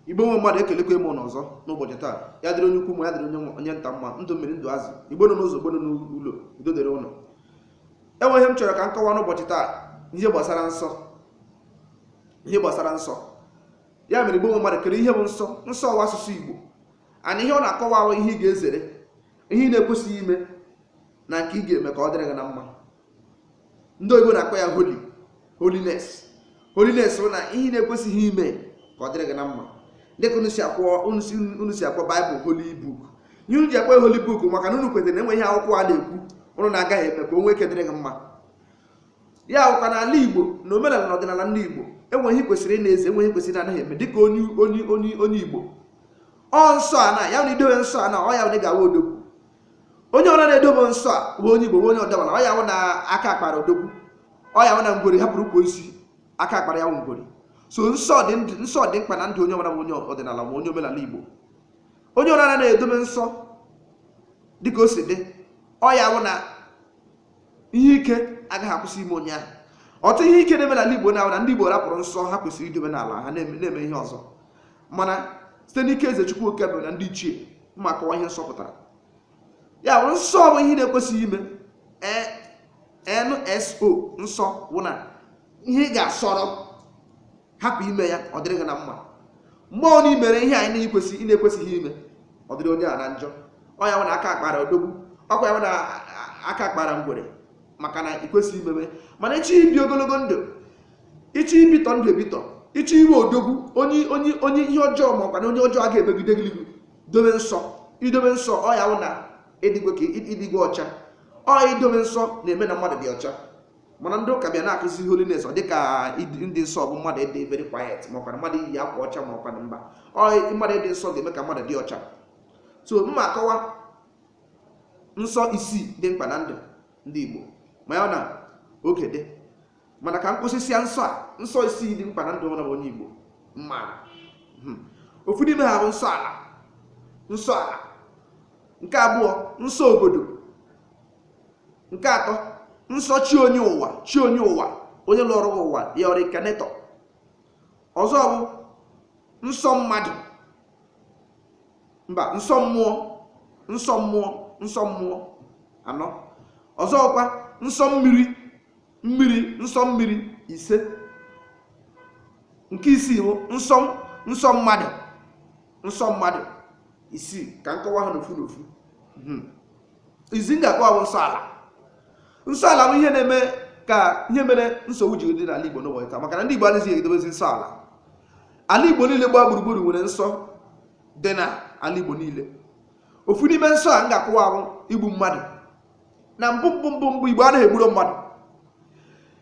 igbo nwe mmadụ ekelekwa m unu ọzọ n'ụbọchị taa ya dịrị onye ukwu ma ya dịrị onye nwa- onye nta mma ndụ mmiri ndụ azụ igbo nọ n'ụzọ igbo nọ n'ụlọ udo dịrị unu enwe ihe m chọrọ ka m kọwaa n'ụbọchị taa ihe gbasara nsọ ihe gbasara nsọ ya mere igbo nwe mmadụ kedụ ihe bụ nsọ nsọ ọ wụ asụsụ igbo and ihe ọ na-akọwa wụ ihe ị ga-ezere ihe ị na-ekwesịghị ime na nke ị ga-eme ka ọ dịrị gị na mma ndị oyibo na-akpọ ya holy holiness holiness bụ na ihe ị na-ekwesịghị ime ka ọ dịrị gị na mma dịka unu si akpọ unu si unu si akpọ baịbụl holy book ihe unu ji akpọ ya holy book maka na unu kwetara na enwe ihe akwụkwọ a na-ekwu unu na-agaghị eme ka o nwee ike dịrị gị mma ya bụkwa n'ala igbo na omenala na ọdịnala ndị igbo enwe ihe kwesịrị ị na-eze enwe ihe kwesịrị na anaghị eme dịka onye onye onye onye igbo ọ nsọ a na ya na idowe nsọ a na ọ ya na ị ga-awụ odogwu onye ọra na-edobe nsọ a bụ onye igbo bụ onye ọdịnala ọ ya wụ na aka akpara odogwu ọ ya wụ na ngwere hapụrụ ukwu osisi aka akpara ya wụ ngwere so nsọ dị ndụ nsọ dị mkpa na ndụ onye ọbụla bụ onye ọdịnala ma onye omenala igbo onye ọra na-edobe nsọ dịka o si dị ọ ya wụ na ihe ike agaghị akwụsị ime onye ahụ ọtụtụ ihe ike na-eme n'ala igbo na-awụ na ndị igbo rapụrụ nsọ ha kwesịrị idobe n'ala ha na-eme na-eme ihe ọzọ mana site n'ike eze chukwu okike na ndị ichie m ma-akọwa ihe nsọ pụtara ya bụ nsọ bụ ihe na-ekwesịghị ime N S O nsọ bụ na ihe ị ga-asọrọ hapụ ime ya ọ dịrị gị na mma mgbe ọ na i mere ihe anyị na-ekwesị ị na-ekwesịghị ime ọ dịrị onye a na njọ ọ ya bụ na aka akpara odogwu ọkwa ya bụ na aka akpara ngwere maka na ị kwesịghị ime mana ị chọọ ibi ogologo ndụ ị chọọ ibitọ ndụ ebitọ ị chọọ ịwụ odogwu onye onye onye ihe ọjọọ ma ọkwa na onye ọjọọ a ga-emegide gị n'ihu dobe nsọ idobe nsọ ọ ya wụ na ịdịgwe ka ịdịgwe ọcha ọ idobe nsọ na-eme na mmadụ dị ọcha mana ndị ụka bịa na-akụzi holiness ọ dịka ịdị- ịdị nsọ bụ mmadụ ịdị very quiet ma ọkwa na mmadụ iyi akwa ọcha ma ọkwa na mba ọ mmadụ ịdị nsọ ga-eme ka mmadụ dị ọcha so m ma-akọwa nsọ isii dị mkpa na ndụ ndị Igbo ma ya na oge dị mana ka m kwusisịa nsọ a nsọ isii dị mkpa na ndụ ọbụla bụ onye igbo mara hmm. ofu n'ime ha bụ nsọ ala nsọ ala nke abụọ nsọ obodo nke atọ nsọ chi onye ụwa chi onye ụwa onye lọrọ ụwa ya ọ wụ nke atọ ọzọ bụ nsọ mmadụ mba nsọ mmụọ nsọ mmụọ nsọ mmụọ anọ ọzọkwa nsọ mmiri mmiri nsọ mmiri ise nke isii bụ nsọ nsọ mmadụ nsọ mmadụ isii ka m kọwaa ha n'ofu n'ofu hmm. izi m ga-akọwa bụ nsọ ala nsọ ala bụ ihe na-eme ka ihe mere nsogbu ji dị n'ala Igbo n'ụbọchị taa maka na ndị Igbo anaghị edobezi nsọ ala ala Igbo niile gbaa gburugburu nwere nsọ dị n'ala Igbo niile ofu n'ime nsọ a m ga-akọwa bụ igbu mmadụ na mbụ mbụ mbụ mbụ igbo anaghị egburo mmadụ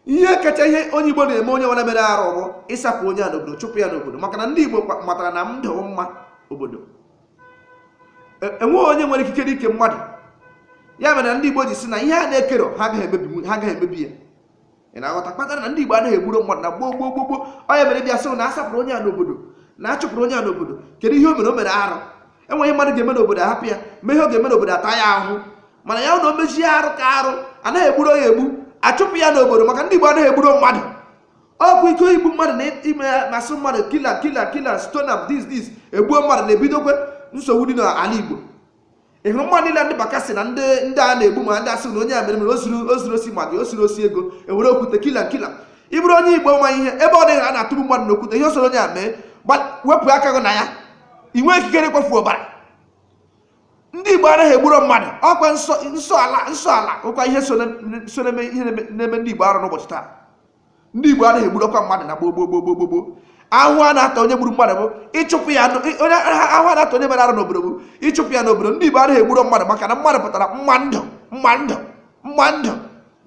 ihe kacha ihe onye igbo na-eme onye ọbụla mere arụ bụ ịsapụ onye a n'obodo chụpụ ya n'obodo maka na ndị igbo matara na ndụ mma obodo e- enweghị onye nwere ikikere ike mmadụ ya mere na ndị igbo ji sị na ihe ha na-ekero ha agaghị emebi ya ị na-aghọta kpatara na ndị Igbo anaghị egburu mmadụ na gboo gboo gboo gboo onye mere bịa sị na asapụrụ onye a n'obodo na achụpụrụ onye a n'obodo kedu ihe o mere o mere arụ e nwee ihe mmadụ ga-eme n'obodo ahapụ ya nwee ihe ọ ga-eme n'obodo ata ya ahụhụ mana ya na o mechie arụ ka arụ anaghị egburu ya egbu achụpụ ya n'obodo maka ndị Igbo anaghị egburu mmadụ ọkụ ike igbu mmadụ na ime masị mmadụ kill am kill am kill am stone am this this egbuo mmadụ na-ebidokwe nsogbu dị n'ala Igbo ị hụrụ mmadụ niile ndị Bakassi na ndị ndị a na-egbu ma ndị asị na onye a mere mere o zuru osi ma gị o zuru osi ego ewere okwute kill am kill am ị bụrụ onye igbo ma ihe ebe ọ dịghị a na-atụgbu mmadụ n'okwute ihe ọ sọrọ onye a mee wepụ aka gị na ya i nweghị ikikere ịkwafu ọbara ndị igbo anaghị egburo mmadụ ọkwa nsọ ala nsọ ala bụkwa ihe so na-eme ihe na-eme ndị igbo arụ n'ụbọchị taa ndị Igbo anaghị egburokwa mmadụ na gboo gboo gboo gboo gboo ahụhụ a na-ata onye gburu mmadụ bụ ịchụpụ ya ahụhụ a na-ata onye mere arụ n'obodo bụ ịchụpụ ya n'obodo ndị Igbo anaghị egburu mmadụ maka na mmadụ pụtara mma ndụ mma ndụ mma ndụ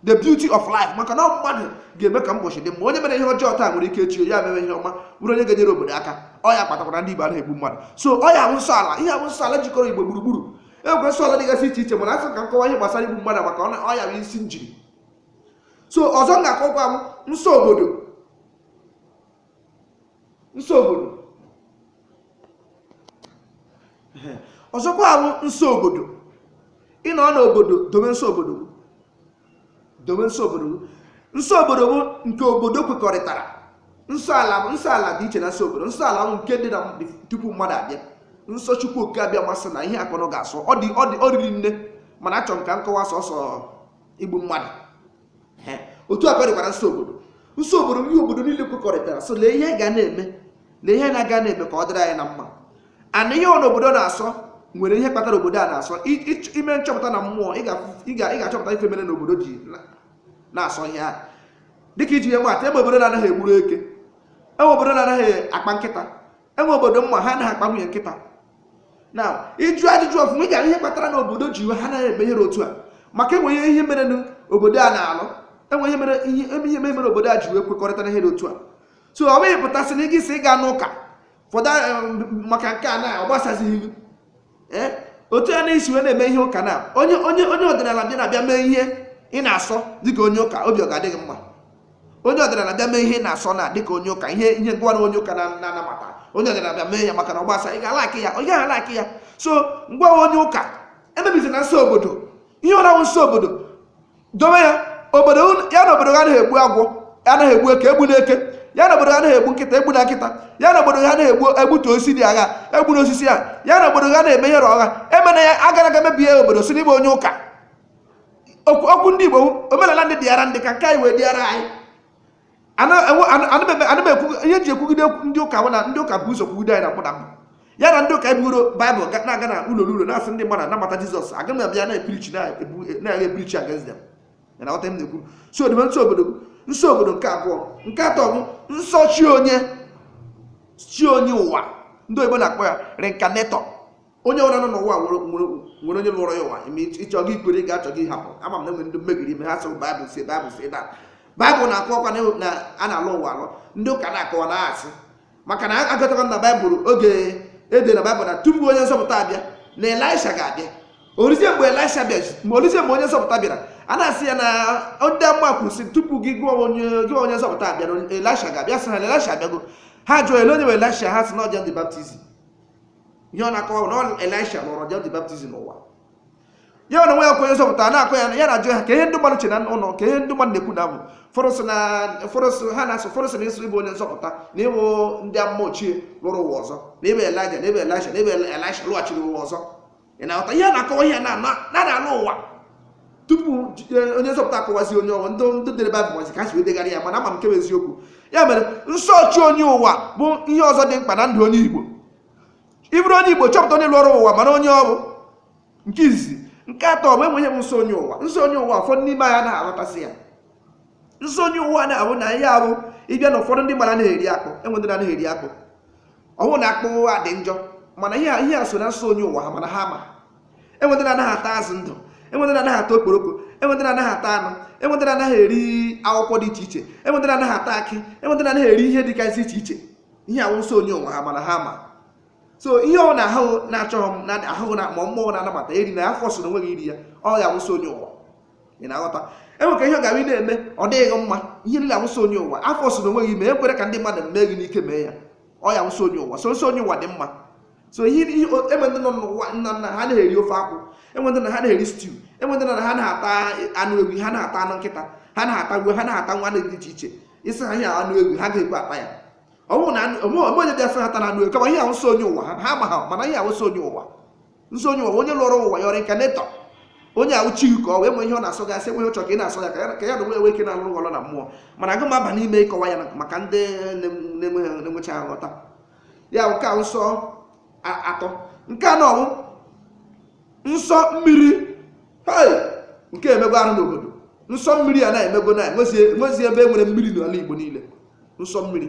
the beauty of life maka na mmadụ ga-eme ka mbọchị dị mma onye mere ihe ọjọọ taa nwere ike echi ya mere ihe ọma bụrụ onye ga-enyere obodo aka ọ ya kpatakwara ndị Igbo anaghị egbu mmadụ so ọ ya bụ nsọ ala ihe bụ nsọ ala jikọrọ Igbo gburugburu e nwere nsọ ala dịgasị iche iche mana asị ka m kọwaa ihe gbasara igbu mmadụ maka ọ ya bụ isi njiri so ọzọ m ga-akọkwa bụ nsọ obodo nsọ obodo ọzọkwa bụ nsọ obodo ị nọ n'obodo dobe nsọ obodo gị. dobe nsọ obodo gị. nsọ obodo bụ nke obodo kwekọrịtara nsọ ala bụ nsọ ala dị iche na nsọ obodo nsọ ala bụ nke dị na tupu mmadụ abịa nsọ chukwu oke abịama sị na ihe a ka ụnụ ga-asọ ọ dị ọ dị ọ riri nne mana achọrọ m ka m kọwaa sọsọ igbu mmadụ otu a ka ọ dịkwara nsọ obodo nsọ obodo ihe obodo niile kwekọrịtara sị lee ihe ga na-eme lee ihe na-aga na-eme ka ọ dịrị anyị na mma mana ihe ọbụla obodo na-asọ nwere ihe kpatara obodo a na-asọ i mee nchọpụta na mmụọ ị ga-achọpụta ife mere na obodo ji na-asọ ihe a dịka iji ihe maa atụ e nwee obodo na-anaghị egburu eke e nwee obodo na-anaghị akpa nkịta enwe obodo m ma ha anaghị akpa nwunye nkịta na ịjụ ajụjụ ọfụma ị mara ihe kpatara na obodo ji wee ha anaghị eme ihe otu a maka enwe ihe mere n'obodo a na-alụ enwe ihe mere ihe eme ihe mere obodo a ji wee kwekọrịta na ihe dị otu a so ọ bụghị pụtasị na ị gị si ịga n'ụka fọdụ maka nke a na ọ gbasazighị ee eh, otu ya na-esi wee na-eme ihe ụka na onye onye onye ọdịnala bịa na-abịa mee ihe ị na-asọ dịka onye ụka obi ọ ga-adị gị mma onye ọdịnala bịa mee ihe ị na-asọ na dịka onye ụka ihe ihe ị mara onye ụka na-anabata onye ọdịnala bịa mee ya maka na ọ gbasa ị ga-alike ya ị gaghị alike ya so ngwa onye ụka emebizina nsọ obodo ihe ọbụla wụ nsọ obodo dobe ya obodo ya na obodo ha anaghị egbu agwọ anaghị egbu eke egbuna eke ya na obodo ha anaghị egbu nkịta egbuna nkịta ya na obodo ha anaghị egbu egbutu osisi dị agha egbuna osisi a ya na obodo ha anaghị eme ihe ọgha emena ya agana aga mebie obodo sị na ị bụ onye ụka okwu ndị Igbo omenala ndị dịara ndị ka nke anyị wee dịara anyị ana m ekwu ihe ji ekwugide ndị ụka na ndị ụka bu ụzọ kwugide anyị na mkpụda mbụ ya na ndị ụka ebugoro baịbụl na-aga na ụlọ n'ụlọ na-asị ndị mmadụ nabata jizọs aga m abịa na-epreach na-aga epreach against them ị na-aghọta ihe m na-ekwu so dobe nsọ obodo nsọ obodo nke abụọ nke atọ bụ nsọ chi onye chi onye ụwa ndị oyibo na-akpọ ya reincarnator onye ọbụla nọ n'ụwa nwere nwere nwere onye lọrọ ya ụwa ime ị chọ gị kwere ị chọ gị hapụ ama m na enwere ndị mmegiri ime ha sịrị baịbụl si baịbụl si na baịbụl na-akọwakwa na na a na-alọ ụwa alọ ndị ụka na-akọwa na asị maka na agụtakwa na baịbụl ebe e de na baịbụl na tupu onye nzọpụta abịa na elisha ga-abịa o ruzie mgbe elisha bịa ma o ruzie mgbe onye nzọpụta bịara a na-asị ya na ndị amụma kwuru sị tupu gị wụ onye gị onye nzọpụta abịa na elisha ga-abịa sị ha na elisha abịago ha jụọ ele onye bụ elisha ha sị na ọ John the Baptist ihe ọ na-akọwa na ọ elisha lọrọ John the Baptist ụwa ya ọ na nwe ya ka onye nzọpụta na-akọ ya ya na-ajụ ha kee ihe ndị mmadụ che na ọ wụ kee ihe ndị mmadụ na-ekwu na ọ bụ ụfọdụ sị na ụfọdụ sị ha na-asị ụfọdụ sị na-asị ị bụ onye nzọpụta na ị bụ ndị amụma ochie lọrọ ụwa ọzọ na ị bụ elija na ị bụ elisha na ị bụ elisha lọghachiri ụwa ọzọ ị na-aghọta ihe a na-akọwa ihe na na na na-alọ ụwa tupu ji- eh, onye nzọpụta akọwazi onye ọ wụ ndị ndị dere baịbụl mazi ka ha si wee degharịa ya mana ama m nke bụ eziokwu ya mere nsọ chi onye ụwa bụ ihe ọzọ dị mkpa na ndụ onye igbo ị bụrụ onye igbo chọpụta onye lọrọ ụwa mara onye ọ bụ nke izizi nke atọ bụ enwe ihe wụ nsọ onye ụwa nsọ onye ụwa ụfọdụ n'ime anyị anaghị aghọtasị ya nsọ onye ụwa na-abụ na ihe abụ ịbịa na ụfọdụ ndị mmadụ anaghị eri akpụ enwe ndị na-anaghị eri akpụ ọ wụghị na akpụ a dị njọ mana ihe ihe a so na nsọ onye ụwa ha mana ha ma enwe ndị na-anaghị ata azụ ndụ enwe ndị na-anaghị ata okporoko enwe ndị na-anaghị ata anụ enwe ndị na-anaghị eri akwụkwọ dị iche iche enwe ndị na-anaghị ata akị enwe ndị na-anaghị eri ihe dịgasị iche iche ihe a wụ nsọ onye ụwa ha mana ha ma so ihe ọbụla ahụ gị na-achọghị m na ahụ gị na ma mmụọ na-anabata erina aforcena onwe gị iri ya ọ ya wụ nsọ onye ụwa ị na-aghọta e nwekwa ihe ọ ga-abụ na-eme ọ dịghị mma ihe niile a wụ nsọ onye ụwa afọsịna onwe gị mee ekwere ka ndị mmadụ mee gị n'ike mee ya ọ ya wụ nsọ onye ụwa so nsọ onye ụwa dị mma so ihe enwe ndị nọ n'ụwa na na ha na-eri ofe akwụ enwe ndị na ha na-eri stiu enwe ndị na ha na-ata anụ ewu ha na-ata anụ nkịta ha na-ata gwe ha na-ata anụ dị iche iche isi ha ihe anụ ewu ha ga-ekwe ata ya ọ bụrụ na onye bịa sị ha atana anụ ewu kama ihe a wụ nsọ onye ụwa ha ha ma ha mana ihe a wụ nsọ onye ụwa nsọ onye ụwa onye lọrọ ụwa ya reincarnator onye ahụ chi ka ọ wee nwee ihe ọ na-asọ gasị enweghị ụchọ ka ị na-asọ ya ka ya na onwe enwe ike na-alụ ọlụ na mmụọ mana aga m aba n'ime ịkọwa ya maka ndị na-enwecha nghọta ya nke a wụ nsọ atọ nke anọ wụ nsọ mmiri nke emego arụ n'obodo nsọ mmiri a na-emego na enwezi ebe e nwere mmiri n'ala Igbo niile nsọ mmiri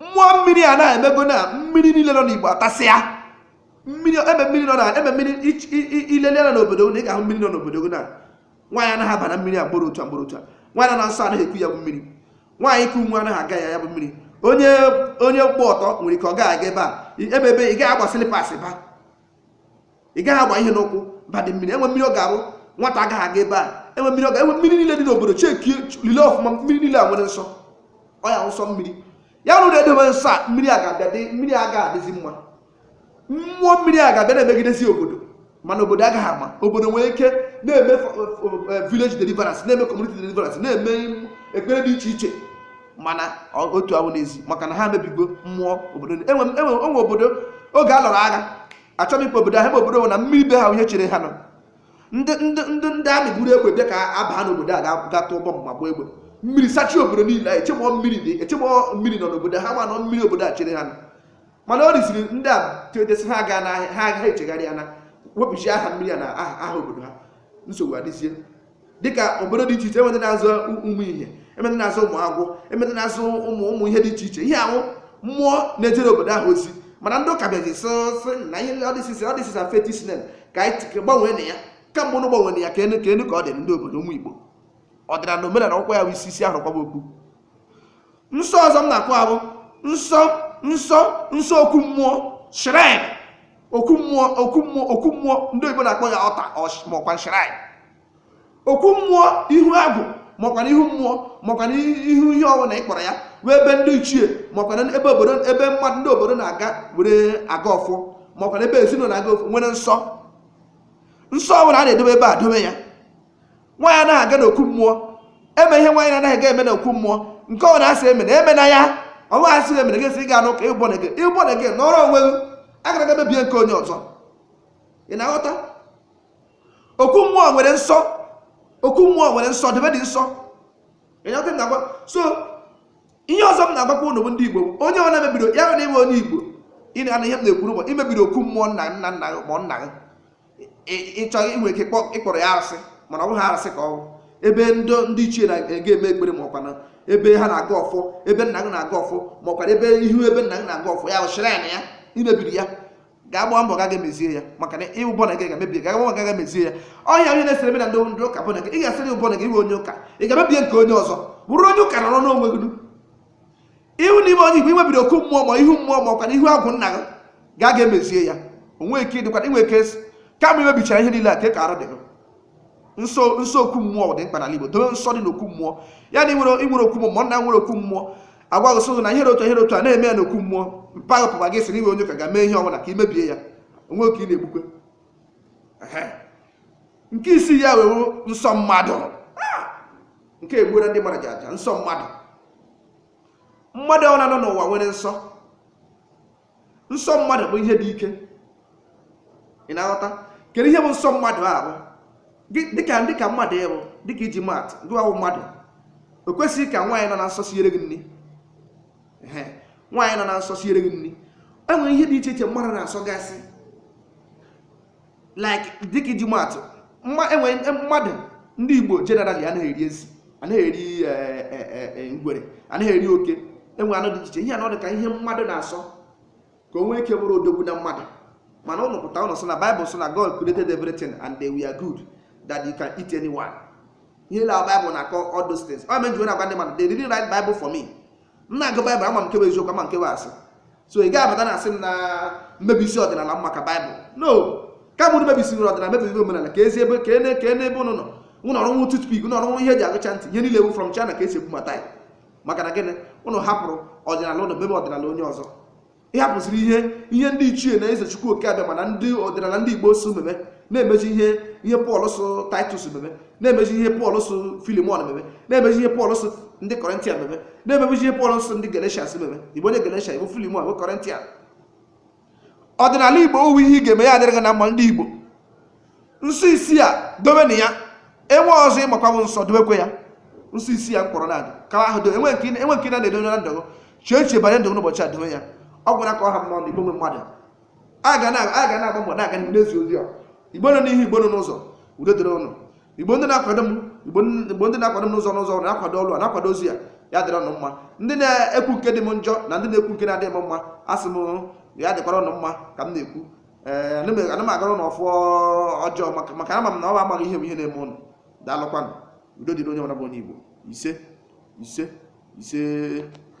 mmụọ mmiri a na-emego na mmiri niile nọ n'igbo atasịa mmiri ebe mmiri nọ na ebe mmiri i lele anya n'obodo na ị ga-ahụ mmiri nọ n'obodo gị na nwaanyị anaghị aba na mmiri a gbara ọtọ gbara ọtọ nwaanyị nọ na nsọ anaghị eku ya bụ mmiri nwaanyị ku nwa anaghị aga ya ya bụ mmiri onye onye gba ọtọ nwere ike ọ gaghị aga ebe a ebe ebe ị gaghị agba slippers ba ị gaghị agba ihe n'ụkwụ badị mmiri enwe mmiri ọ ga-abụ nwata agaghị aga ebe a enwe mmiri ọ ga enwe mmiri niile dị n'obodo checkie lele ọfụma mmiri niile a nwere nsọ ọ ya nsọ mmiri ya wụrụ na-edobe nsọ a mmiri a ga-abịa dị mmiri a ga adịzi mma mmụọ mmiri a ga-abịa na-emegidezi obodo mana obodo agaghị ama obodo nwere ike na-eme village deliverance na-eme community deliverance na-eme ekpere dị iche iche mana otu ahụ n'ezi maka na ha mebigo mmụọ obodo enwe obodo oge a lụrụ agha achọghị m ịkpọ obodo ahụ ebe obodo nwere na mmiri be ha ihe chere ha nọ ndị ndị ndị ndị army buru egbe bịa ka a baa n'obodo a ga- ga tụọ bọmbụ ma gbaa egbe mmiri sachie obodo niile anyị echebọ mmiri dị echebọ mmiri nọ n'obodo ha ma na ọ mmiri obodo a chere ha nọ mana o ruziri ndị a tetasị ha gaa n'ahịa ha agaghị echegharịana wepụzie aha mmiri a na aha aha obodo ha nsogbu adịzie dịka obodo dị iche iche enwe ndị na-aza ụmụ ihe enwe ndị na-aza ụmụ agwụ enwe ndị na-aza ụmụ ụmụ ihe dị iche iche ihe a wụ mmụọ na-ejere obodo ahụ ozi mana ndị ụka bịazi sị sị na ihe oh this is oh this is a fetish name ka anyị gbanweenụ ya kamgbe ụnụ gbanwere ya kee nụ kee nụ ka ọ dị ndị obodo ụmụ igbo ọdịnala na omenala ọkwa ya bụ isi isi a hụrụ kwaba okpu nsọ ọzọ m na-akọ bụ nsọ nsọ nsọ okwu mmụọ shrine okwu mmụọ okwu mmụọ okwu mmụọ ndị oyibo na-akpọ ya altar maọkwa shrine okwu mmụọ ihu agwụ maọkwa ihu mmụọ maọkwa ihu ihe ọ wụna ị kpọrọ ya wụ ebe ndị ichie maọkwa ebe obodo ebe mmadụ ndị obodo na-aga were agọ ọfọ maọkwa ebe ezinụlọ na-agọ ọfọ nwere nsọ nsọ ọbụla a na-edobe ebe a dobe ya nwaanyị anaghị aga n'okwu mmụọ eme ihe nwaanyị anaghị aga eme n'okwu mmụọ nke ọwụla asị emena emena ya ọnwa asị eme na gesi ị ga-anụ ka ịwụ born again ịwụ born again nọrọ onwe gị agala aga mebie nke onye ọzọ ị na-aghọta okwu mmụọ nwere nsọ okwu mmụọ nwere nsọ ebe dị nsọ ị na-aghọta m na-agwa so ihe ọzọ m na-agwakwa ụnụ bụ ndị igbo bụ onye ọwụla mebiri ya na ịwụ onye igbo ị na-anụ ihe m na-ekwuru ma imebiri okwu mmụọ nna nna nna gị ma nna gị ịchọ inwe ike ịkpọrọ ya arụsị mana ọ bụghị arụsị ka ọ bụ ebe ndị ndị ichie na-aga eme ekpere ma ọkwa na ebe ha na-agọ ọfọ ebe nna gị na-agọ ọfọ ma ọkwa ebe ihu ebe nna gị na-agọ ọfọ ya wụ shrine ya na ya imebiri ya gaa gbaa mbọ gaa ga emezie ya maka na ịwụ born again ga-emebi gaa gbaa gaa ga emezie ya ọhịa onye na-esere ebe na ndị ndị ụka born again ị ga-asị ịwụ born again ịwụ onye ụka ị gaa mebie nke onye ọzọ bụrụ onye ụka nọrọ n'onwe gị ihu na ịwụ onye igbo imebiri okwu mmụọ ma ihu mmụọ ma ọkwa na ihu agwụ nna gị ga aga emezie ya onwe ike dịkwa inwe ike s- kama imebichara ihe niile a ka ị ka arụ dị gị nsọ nsọ okwu mmụọ dị mkpa n'ala igbo dobe nsọ dị n'okwu mmụọ ya na inwere inwere okwu mmụọ ụmụnna nwere okwu mmụọ agwa gị sị na ihe dị otu a, ihe dị otu a na-eme ya n'okwu mmụọ mpaghara pụkwa gị sị na ịwụ onye ụka ga mee ihe ọbụla ka imebie ya onwe gị ka ị na-egbukwa Ehe. nke isii ya wee wụrụ nsọ mmadụ nke egbuola ndị mmadụ ji aja nsọ mmadụ mmadụ ọwụla nọ n'ụwa nwere nsọ nsọ mmadụ bụ ihe dị ike ị na-aghọta kedu ihe bụ nsọ mmadụ ahụ Gị- dịka dịka mmadụ ịbụ dịka iji maatụ gị wụ mmadụ o kwesịghị ka nwaanyị nọ na nsọ siere gị nri Ehe, nwaanyị nọ na nsọ siere gị nri enwere ihe dị iche iche mmadụ na-asọgasị like dịka iji maatụ mma- enwere em- mmadụ ndị igbo generally anaghị eri ezi anaghị eri eh, eh, eh, eh, ngwere anaghị eri oke enwe anụ dị iche iche ihe anọ dị ka ihe mmadụ na-asọ ka o nwee ike bụrụ odogwu na mmadụ mana ụnụ pụta ụnụ sị na baịbụl sị na god created everything and they were good that you can eat anyone ihe la baịbụl na-akọ all those things ọ mere m ji wee na-agwa ndị mmadụ they didn't write bible for me m na-agụ baịbụl ama m nke bụ eziokwu ama m nke bụ asị so ị gaghị abata na-asị m na m mebisie ọdịnala maka baịbụl no kama unu mebisiri ọdịnala mebisiri omenala ka ezi ebe ka ene ka ene ebe ụnụ nọ ụnụ ọ rụnwu toothpick ụnụ ọ rụnwu ihe eji agụcha ntị ihe niile wụ from China ka esi ebubata ya maka na gịnị ụnụ hapụrụ ọdịnala ụnụ mebe ọdịnala onye ọzọ ị hapụziri ihe ihe ndị ichie na ezi chukwu okike abịama na ndị ọdịnala ndị igbo sị meme na-emeji ihe ihe pọl sị titus meme na-emeji ihe pọl sị filimon meme na-emeji ihe pọl sị ndị kọrịntia meme na-emeji ihe pọl sị ndị galatians meme ị bụ onye galatia ị bụ filimon ị bụ kọrịntia ọdịnala igbo ọ wụ ihe ị ga-eme ya adịrị gị na mma ndị igbo nsọ isii a dobenụ ya e nwee ọzọ ị makwa bụ nsọ dobekwe ya nsọ isii a m kpọrọ na-adị kara ahụ do enwe nke enwe nke na-edo na ndụ gị chee echiche banye ndụ gị n'ụbọchị a dobe ya ọ gwụla ka ọ ha m n'ọnụ igbo nwe mmadụ a ga na- a ga na-agba mbọ na-aga n'ihu n'ezi ozi a igbo nọ n'ihu igbo nọ n'ụzọ udo dịrị ụnụ igbo ndị na-akwado m igbo n- igbo ndị na-akwado m n'ụzọ n'ụzọ ọrụ na-akwado ọrụ a na-akwado ozi a ya dịrị ụnụ mma ndị na-ekwu nke dị m njọ na ndị na-ekwu nke na-adịghị m mma asị m ya dịkwara ụnụ mma ka m na-ekwu ee ana m- ana m agọrọ ụnụ ọfọ ọjọọ maka na ama m na ọ bụ amaghị ihe bụ ihe na-eme ụnụ daalụkwanụ udo dịrị onye ọbụla bụ onye igbo ise ise ise